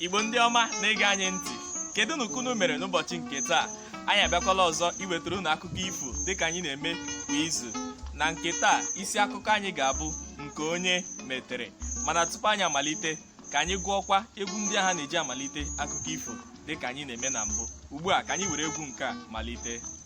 igbo ndị ọma na-ege anyị ntị kedunụ ka unu mere n'ụbọchị nke taa anyị abịakwala ọzọ iwetara unu akụkọ ifo dịka anyị na-eme kwa izu na nke taa isi akụkọ anyị ga-abụ nke onye metere mana tupu anyị amalite ka anyị gụọkwa egwu ndị ahụ a na-eji amalite akụkọ ifo dịka anyị na-eme na mbụ ugbu a ka anyị were egwu nke a malite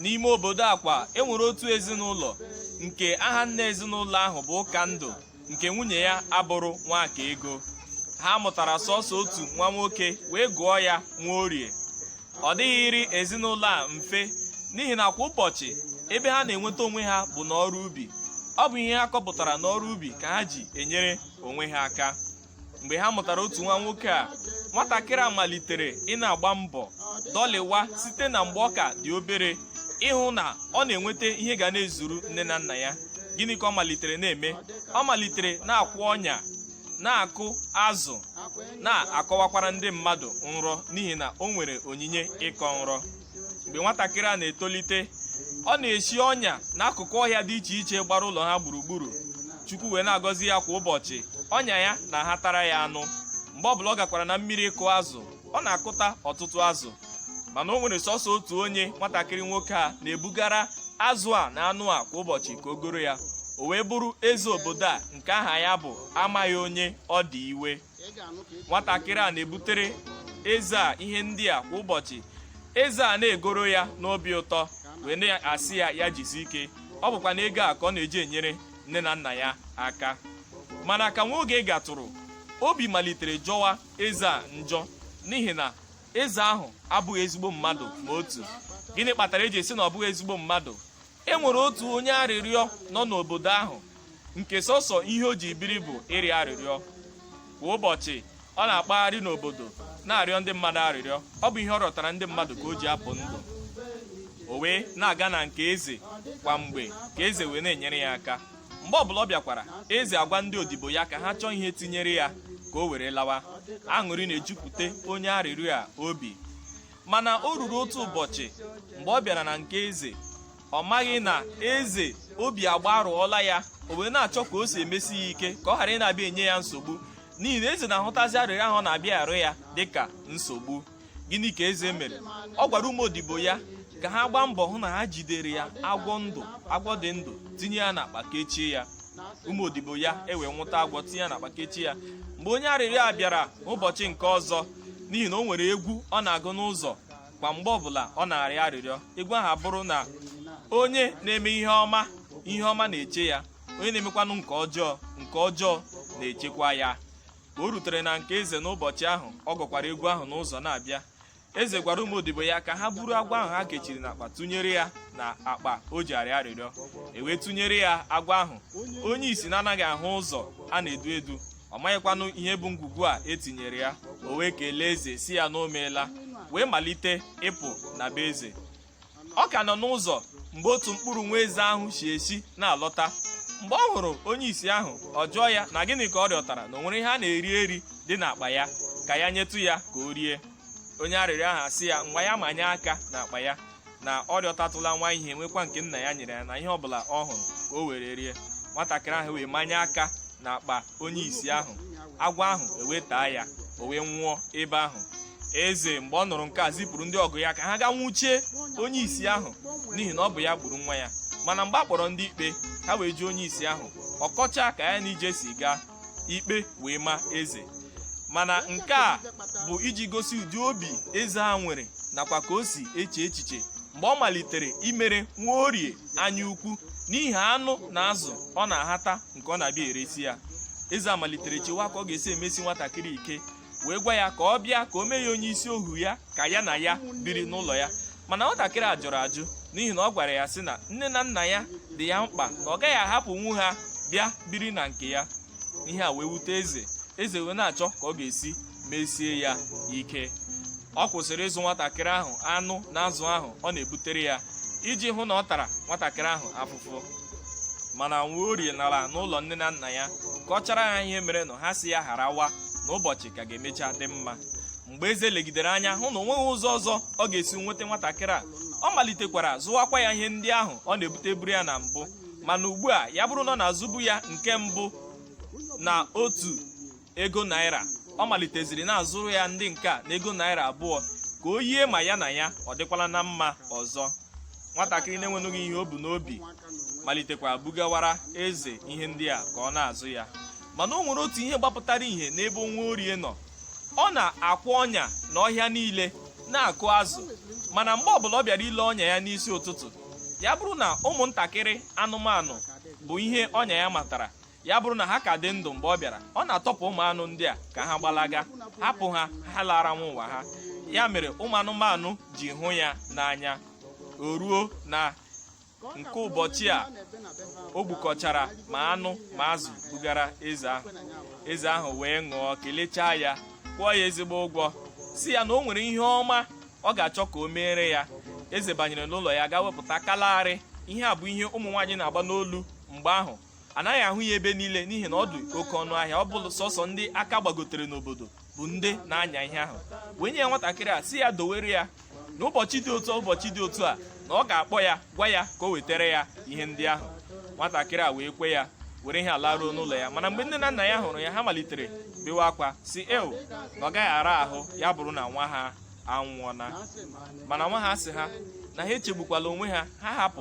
n'ime obodo akwa enwere otu ezinụlọ nke aha nna ezinụlọ ahụ bụ ụkandụ nke nwunye ya abụrụ nwakaego ha mụtara sọsọ otu nwa nwoke wee gụọ ya nwaorie ọ dịghịrị ezinụlọ a mfe n'ihi na kwa ụbọchị ebe ha na-enweta onwe ha bụ n'ọrụ ubi ọ bụ ihe ha kọpụtara n'ọrụ ubi ka ha ji enyere onwe ha aka mgbe ha mụtara otu nwa nwoke a nwatakịrị a malitere ị na-agba mbọ dọlịwa site na mgbe ọ ka dị obere ịhụ na ọ na-enweta ihe ga na-ezuru nne na nna ya gịnị ka ọ malitere na-eme ọ malitere na-akwụ ọnya na-akụ azụ na-akọwakwara ndị mmadụ nrọ n'ihi na o nwere onyinye ịkọ nrọ mgbe nwatakịrị a na-etolite ọ na-esi ọnya n'akụkụ ọhịa dị iche iche gbara ụlọ ha gburugburu chukwu wee na-agọzi ya kwa ụbọchị ọnya ya na-ahatara ya anụ mgbe ọbụla ọ gakwara na mmiri ịkụ azụ ọ na-akụta ọtụtụ azụ mana o nwere sọsọ otu onye nwatakịrị nwoke a na-ebugara azụ a na anụ a kwa ụbọchị ka o goro ya o wee bụrụ eze obodo a nke aha ya bụ amaghị onye ọ dị iwe nwatakịrị a na-ebutere eze a ihe ndị a kwa ụbọchị eze a na-egoro ya n'obi ụtọ wee na-asị ya ya jisi ike ọ bụkwanụ ego a ka ọ na-eji enyere nne na nna ya aka mana ka nwa oge gatụrụ obi malitere jọwa eze a njọ n'ihi na eze ahụ abụghị ezigbo mmadụ ma otu gịnị kpatara eji sị na ọ bụghị ezigbo mmadụ e nwere otu onye arịrịọ nọ n'obodo ahụ nke sọsọ ihe o ji biri bụ ịrịọ arịrịọ kwa ụbọchị ọ na-akpagharị n'obodo na-arịọ ndị mmadụ arịrịọ ọ bụ ihe ọ rịọtara ndị mmadụ ka o ji apụ ndụ o wee na-aga na nke eze kwa mgbe ka eze wee na-enyere ya aka mgbe ọbụla ọ bịakwara eze agwa ndị odibo ya ka ha chọọ ihe tinyere ya ka o were lawa aṅụrị na-ejupụta onye arịrịọ a obi mana o ruru otu ụbọchị mgbe ọ bịara na nke eze ọ maghị na eze obi agbarụọla ya o wee na-achọ ka o si emesi ya ike ka ọ ghara ị na-abịa enye ya nsogbu n'ihi na eze na-ahụtazi arịrịọ ahụ ọ na-abịa arịọ ya dịka nsogbu gịnị ka eze mere ọ gwara ụmụ odibo ya ka ha gbaa mbọ hụ na ha jidere ya agwọ ndụ agwọ dị ndụ tinye ya n'akpa kechie ya ụmụ odibo ya ewee nwụta agwọ tinye ya n'akpa kechie ya mgbe onye arịrịọ a bịara n'ụbọchị nke ọzọ n'ihi na o nwere egwu ọ na-agụ n'ụzọ kwa mgbe ọbụla ọ na-arịọ arịrịọ egwu ahụ abụrụ na onye na-eme ihe ọma ihe ọma na-eche ya onye na-emekwanụ nke ọjọọ nke ọjọọ na-echekwa ya ka o rutere na nke eze n'ụbọchị ahụ ọ gụkwara egwu ahụ n'ụzọ na-abịa eze gwara ụmụ odibo ya ka ha buru agwọ ahụ ha kechiri n'akpa tụnyere ya na akpa o ji arịọ arịrịọ e wee tụnyere ya agwọ ahụ onye isi na-anaghị ahụ ụzọ a na-edu edu ọ maghịkwanụ ihe bụ ngwugwu a e tinyere ya o wee kelee eze sị ya na o meela wee malite ịpụ na be eze ọ ka nọ n'ụzọ mgbe otu mkpụrụ nwa eze ahụ si ezi na-alọta mgbe ọ hụrụ onye isi ahụ ọ jụọ ya na gịnị ka ọ rịọtara na o nwere ihe a na-eri eri dị n'akpa ya ka ya nyetụ ya ka o rie onye arịrịọ ahụ asị ya ngwa ya manye aka n'akpa ya na ọ rịọtatụla nwa ihe nwekwa nke nna ya nyere ya na ihe ọbụla ọ hụrụ ka o were rie nwatakịrị ahụ wee manye aka na akpa onye isi ahụ agwọ ahụ e wee taa ya o wee nwụọ ebe ahụ eze mgbe ọ nụrụ nke a zipụrụ ndị ọgụ ya ka ha gaa nwụchie onye isi ahụ n'ihi na ọ bụ ya gburu nwa ya mana mgbe a kpọrọ ndị ikpe ha wee jụọ onye isi ahụ ọ kọcha ka ya na ije si gaa ikpe wee ma eze mana nke a bụ iji gosi ụdị obi eze a nwere nakwa ka o si eche echiche mgbe ọ malitere imere nwaorie anya ukwu n'ihi anụ na azụ ọ na-ahata nke ọ na-abịa eresi ya eze a malitere chewa ka ọ ga-esi emesi nwatakịrị ike wee gwa ya ka ọ bịa ka o mee ya onye isi ohu ya ka ya na ya biri n'ụlọ ya mana nwatakịrị a jụrụ ajụ n'ihi na ọ gwara ya sị na nne na nna ya dị ya mkpa na ọ gaghị ahapụnwu ha bịa biri na nke ya ihe a wee wute eze eze wee na-achọ ka ọ ga-esi mesie ya ike ọ kwụsịrị ịzụ nwatakịrị ahụ anụ na azụ ahụ ọ na-ebutere ya iji hụ na ọ tara nwatakịrị ahụ afụfụ mana nwaorie nara n'ụlọ nne na nna ya kọchara ha ihe merenụ ha sị ya gharawa na ụbọchị ka ga-emecha dị mma mgbe eze legidere anya hụ na o nweghị ụzọ ọzọ ọ ga-esi nweta nwatakịrị a ọ malitekwara zụwakwa ya ihe ndị ahụ ọ na-ebuteburu ya na mbụ mana ugbu a ya bụrụ na ọ na-azụbu ya nke mbụ na otu ego naira ọ maliteziri na-azụrụ ya ndị nke a na ego naira abụọ ka o yie ma ya na ya ọ dịkwala na mma ọzọ nwatakịrị na-enwenụghị ihe o bu n'obi malitekwa bugawara eze ihe ndị a ka ọ na-azụ ya mana o nwere otu ihe gbapụtara ihe n'ebe nwaorie nọ ọ na-akwụ ọnya na ọhịa niile na-akụ azụ mana mgbe ọbụla ọ bịara ile ọnya ya n'isi ụtụtụ ya bụrụ na ụmụntakịrị anụmanụ bụ ihe ọnya ya matara ya bụrụ na ha ka dị ndụ mgbe ọ bịara ọ na-atọpụ ụmụ anụ ndị a ka ha gbalaga hapụ ha ha laara nwa ụwa ha ya mere ụmụ anụmanụ ji hụ ya n'anya o ruo na nke ụbọchị a o gbukọchara ma anụ ma azụ bugara eze ahụ eze ahụ wee ṅụọ kelechaa ya kwụọ ya ezigbo ụgwọ sị ya na o nwere ihe ọma ọ ga-achọ ka o meere ya eze banyere n'ụlọ ya gaa wepụta kalari ihe a bụ ihe ụmụ nwaanyị na-agba n'olu mgbe ahụ a naghị ahụ ya ebe niile n'ihi na ọ dị oke ọnụ ahịa ọ bụrụ sọsọ ndị aka gbagotere n'obodo bụ ndị na-anya ihe ahụ wee nye ya nwatakịrị a sị ya dowere ya na ụbọchị dị otu ụbọchị dị otu a na ọ ga-akpọ ya gwa ya ka o wetara ya ihe ndị ahụ nwatakịrị a wee kwe ya were ihe a laruo n'ụlọ ya mana mgbe nne na nna ya hụrụ ya ha malitere bewe akwa sị ewo na ọ gaghị ara ahụ ya bụrụ na nwa ha anwụọna mana nwa ha asị ha na ha echegbukwala onwe ha ha hapụ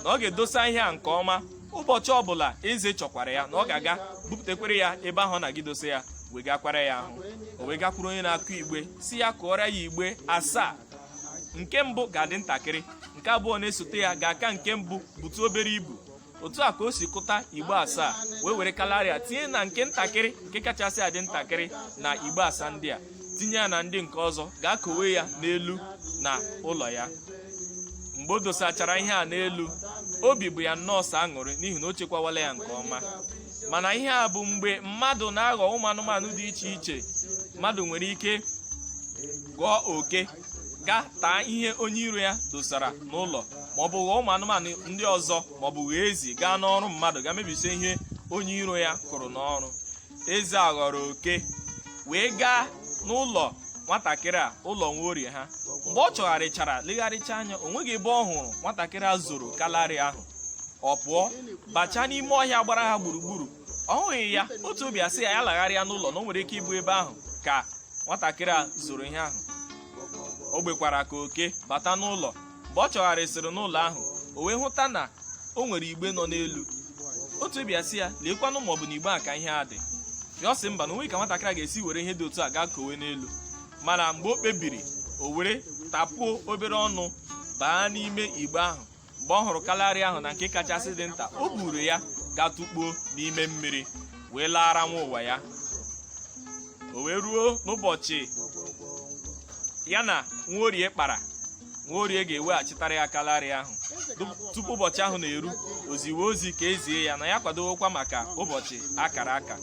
na ọ ga-edosa ihe a nke ọma ụbọchị ọbụla eze chọkwara ya na ọ ga-aga bupụtakwara ya ebe ahụ ọ na-aga idosa ya wegakwara ya ahụ o wee gakwuru onye na-akụ igbe sị ya kụọrọ ya igbe asaa nke mbụ ga-adị ntakịrị nke abụọ na-esote ya ga-aka nke mbụ butu obere ibu otu a ka o si kụta igbe asaa wee were kalari a tinye na nke ntakịrị nke kachasị adị ntakịrị na igbe asaa ndị a tinye ya na ndị nke ọzọ gaa kowe ya n'elu na ụlọ ya mgbe o dosachara ihe a n'elu obi bụ ya nnọọ sọ aṅụrị n'ihi na o chekwawala ya nke ọma mana ihe a bụ mgbe mmadụ na-aghọ ụmụ anụmanụ dị iche iche mmadụ nwere ike ghọọ oke gaa taa ihe onye iro ya dosara n'ụlọ ma ọ bụ ghọọ ụmụ anụmanụ ndị ọzọ ma ọ bụ ghọọ ezi gaa n'ọrụ mmadụ gaa mebisie ihe onye iro ya kụrụ n'ọrụ eze a ghọrọ oke wee gaa n'ụlọ nwatakịrị a ụlọ nwaorie ha mgbe ọ chọgharịchara legharịcha anya o nweghị ebe ọ hụrụ nwatakịrị a zoro kalari ahụ ọ pụọ bachaa n'ime ọhịa gbara ha gburugburu ọ hụghị ya otu obi asị ya ya lagharịa n'ụlọ na o nwere ike ịbụ ebe ahụ ka nwatakịrị a zoro ihe ahụ o gbekwara ka oke bata n'ụlọ mgbe ọ chọgharịsịrị n'ụlọ ahụ o wee hụta na o nwere igbe nọ n'elu otu obi asị ya leekwanụ ma ọ bụ na igbe a ka ihe a dị ya ọ sị mba na o nweghị ka nwatakịrị a ga-esi were ihe dị otu a gaa kowe n'elu mana mgbe o kpebiri o were tapuo obere ọnụ baa n'ime igbe ahụ mgbe ọ hụrụ kalari ahụ na nke kachasị dị nta o buru ya gaa tụkpuo n'ime mmiri wee laara nwa ụwa ya o wee ruo n'ụbọchị ya na nwaorie kpara nwaorie ga-eweghachitara ya kalari ahụ tupu ụbọchị ahụ na-eru o ziwe ozi ka e zie ya na ya kwadowokwa maka ụbọchị akara aka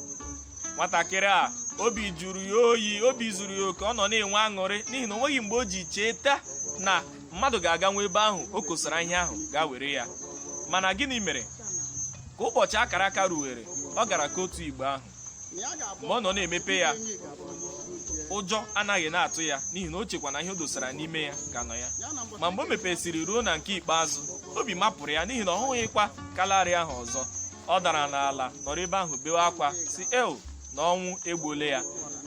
nwatakịrị a obi jụrụ ya oyi obi zuru ya oke ọ nọ na-enwe aṅụrị n'ihi na o nweghị mgbe o ji cheta na mmadụ ga-aga nwa ebe ahụ o kosara ihe ahụ gaa were ya mana gịnị mere ka ụbọchị akara aka ruwere ọ gara kotuo igbe ahụ mgbe ọ nọ na-emepe ya ụjọ anaghị na-atụ ya n'ihi na o chekwa na ihe o dosara n'ime ya ka nọ ya ma mgbe o mepesịrị ruo na nke ikpeazụ obi mapụrụ ya n'ihi na ọ hụghịkwa kalari ahụ ọzọ ọ dara n'ala nọrọ ebe ahụ bewe akwa sị el na ọnwụ egbuole ya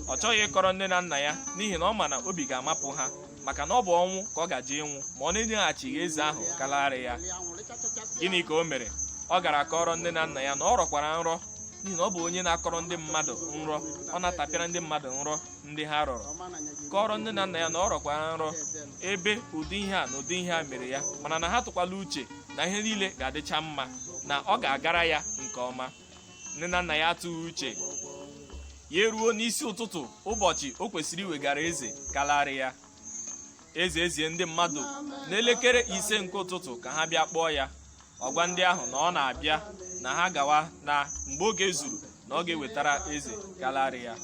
ọ chọghị ịkọrọ nne na nna ya n'ihi na ọ ma na obi ga-amapụ ha maka na ọ bụ ọnwụ ka ọ gaje ịnwụ ma ọ na-enyeghachighị eze ahụ kalaarị ya gịnị ka o mere ọ gara kọrọ nne na nna ya na ọ rọkwara nrọ n'ihi na ọ bụ onye na-akọrọ ndị mmadụ nrọ ọ na-atapịara ndị mmadụ nrọ ndị ha rọrọ kọrọ nne na nna ya na ọ rọkwara nrọ ebe ụdị ihe a na ụdị ihe a mere ya mana na ha atụkwala uche na ihe niile ga-adịcha mma na ọ ga-agara ya nke ọma nne na nna ya atụghị uche ya eruo n'isi ụtụtụ ụbọchị o kwesịrị iwegara eze kalarị ya eze ezie ndị mmadụ n'elekere ise nke ụtụtụ ka ha bịa kpọọ ya ọ gwa ndị ahụ na ọ na-abịa na ha gawa na mgbe oge zuru na ọ ga-ewetara eze kalarị ya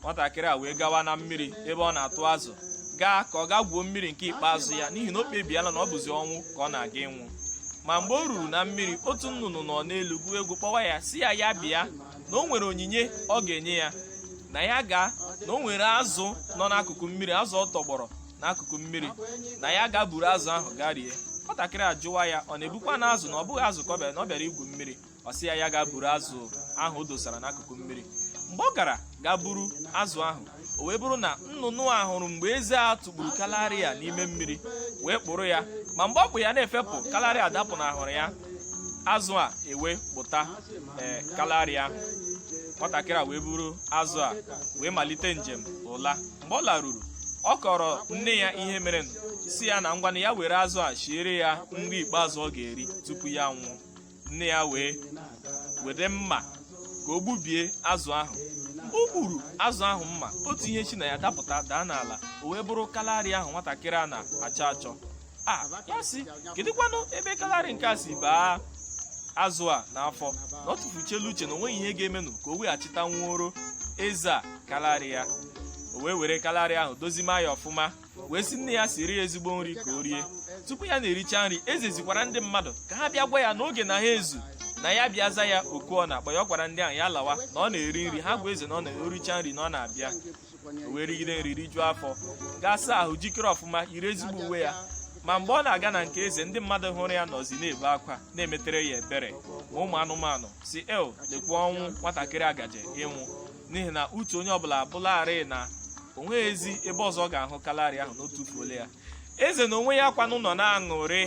nwatakịrị a wee gawa na mmiri ebe ọ na-atụ azụ gaa ka ọ gaa gwuo mmiri nke ikpeazụ ya n'ihi na o kpebiela na ọ bụzi ọnwụ ka ọ na-aga ịnwụ ma mgbe o ruru na mmiri otu nnụnụ nọ n'elu gụọ egwu kpọwa ya sị ya ya bịa na o nwere onyinye ọ ga-enye ya na ya gaa na o nwere azụ nọ n'akụkụ mmiri azụ ọ tọgbọrọ n'akụkụ mmiri na ya ga buru azụ ahụ gaa rie nwatakịrị ajụwa ya ọ na-ebukwanụ azụ na ọ bụghị azụ ka ọ bịara na ọ bịara igwu mmiri ọ sị ya ya ga buru azụ ahụ o dosara n'akụkụ mmiri mgbe ọ gara ga buru azụ ahụ o wee bụrụ na nnụnụ a hụrụ mgbe eze a tụpụrụ kalarị a n'ime mmiri wee kpụrụ ya ma mgbe ọ kpụ ya na-efepụ kalarị a dapụnahụrụ ya azụ a ewee kpụta kalarị ahụ nwatakịrị a wee buru azụ a wee malite njem ụla mgbe ọ laruru ọ kọrọ nne ya ihe mere sị ya na ngwanụ ya were azụ a shiere ya nri ikpeazụ ọ ga-eri tupu ya nwụọ nne ya wee were mma ka o gbubie azụ ahụ mgbe o gburu azụ ahụ mma otu ihe shi na ya dapụta daa n'ala o wee bụrụ kalari ahụ nwatakịrị a na-achọ achọ ya asị kedụkwanụ ebe kalari nke a si baa azụ a n'afọ na ọ tụfuchela uche na o nweghị ihe ga-emenụ ka o weghachitanwuoro eze a kalari ya o wee were kalari ahụ dozima ya ọfụma wee sị nne ya siri ya ezigbo nri ka o rie tupu ya na-ericha nri eze zikwara ndị mmadụ ka ha bịa gwa ya na oge na-aga izu na ya bịa zaa ya oku ọ na-akpọ ya ọ gwara ndị ahụ ya lawa na ọ na-eri nri ha gwa eze na ọ na-ericha nri na ọ na-abịa o wee rigide nri rijuo afọ gaa saa ahụ jikere ọfụma yiri ezigbo uwe ya ma mgbe ọ na-aga na nke eze ndị mmadụ hụrụ ya nọzi na-ebe akwa na-emetere ya ebere ma ụmụ anụmanụ sị el lekwa ọnwụ nwatakịrị a gaje ịnwụ n'ihi na uche onye ọbụla abụlarị na onweghịzi ebe ọzọ ọ ga-ahụ kalari ahụ na o tufuole ya eze na onwe ya kwanụ nọ na-aṅụrị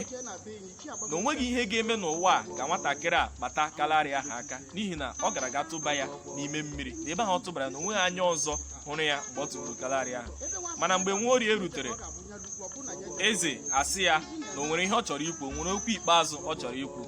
na onweghị ihe ga-eme n'ụwa a ka nwatakịrị a kpata kalari ahụ aka n'ihi na ọ gara ga tụba ya n'ime mmiri na ebe ahụ ọ tụbara na onweghị anya ọzọ hụrụ ya mgbe ọ tụburu kalari ahụ mana mgbe nwaorie rutere eze asị ya na o nwere ihe ọ chọrọ ikwu o nwere okwu ikpeazụ ọ chọrọ ikwu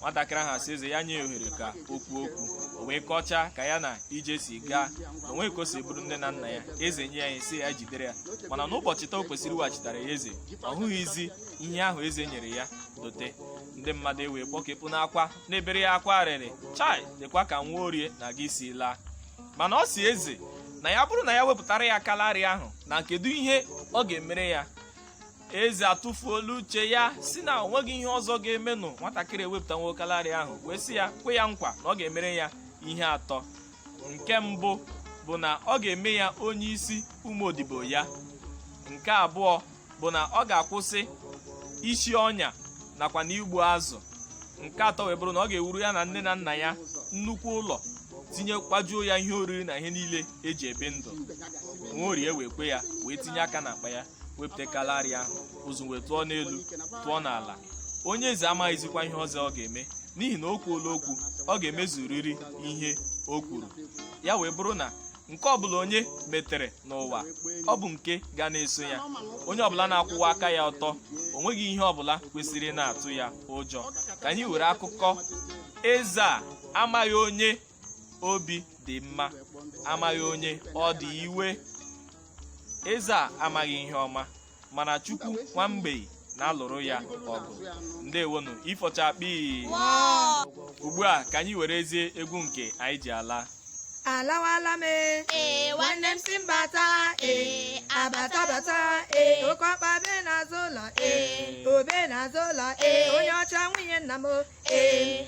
nwatakịrị ahụ asị eze ya nye ya ohere ka o kwuo okwu o wee kọchaa ka ya na ije si gaa na onwe ka o si bụrụ nne na nna ya eze nye ya ihe sị ya jidere ya mana n'ụbọchị taa o kwesịrị iweghachitara ya eze ọ hụghịzi ihe ahụ eze nyere ya dote ndị mmadụ ewee kpọkepụ n'akwa na-ebere ya akwa arịrị chai lekwa ka nwaorie na-aga isi laa mana ọ si eze na ya bụrụ na ya wepụtara ya kalari ahụ na kedu ihe ọ ga-emere ya eze atụfuola uche ya sị na onweghị ihe ọzọ ga-emenụ nwatakịrị ewepụtanwo kalari ahụ wee sị ya kwe ya nkwa na ọ ga-emere ya ihe atọ nke mbụ bụ na ọ ga-eme ya onye isi ụmụ odibo ya nke abụọ bụ na ọ ga-akwụsị isi ọnya nakwa na igbu azụ nke atọ wee bụrụ na ọ ga-ewuru ya na nne na nna ya nnukwu ụlọ tinye kwajuo ya ihe oriri na ihe niile eji ebi ndụ nwaorie wee kwe ya wee tinye aka n'akpa ya wepụta kalari ahụ ụzụ wee tụọ n'elu tụọ n'ala onye eze amaghịzikwa ihe ọzọ ọ ga-eme n'ihi na o kwuola okwu ọ ga-emezuriri ihe o kwuru ya wee bụrụ na nke ọbụla onye metere n'ụwa ọ bụ nke ga na-eso ya onye ọbụla na-akwụwa aka ya ọtọ o nweghị ihe ọbụla kwesịrị na-atụ ya ụjọ ka anyị were akụkọ eze a amaghị onye obi dị mma amaghị onye ọ dị iwe eze a amaghị ihe ọma mana chukwu nwa mgbei na-alụrụ ya ọgụ ndewonu ifo chakpii ugbu a ka anyị werezie egwu nke anyị ji ala alawala m ee ee nwanne m si mbata ee abata bata ee oke ọkpa be n'azụ ụlọ ee o be n'azụ ụlọ ee onye ọcha nwunye nna m o ee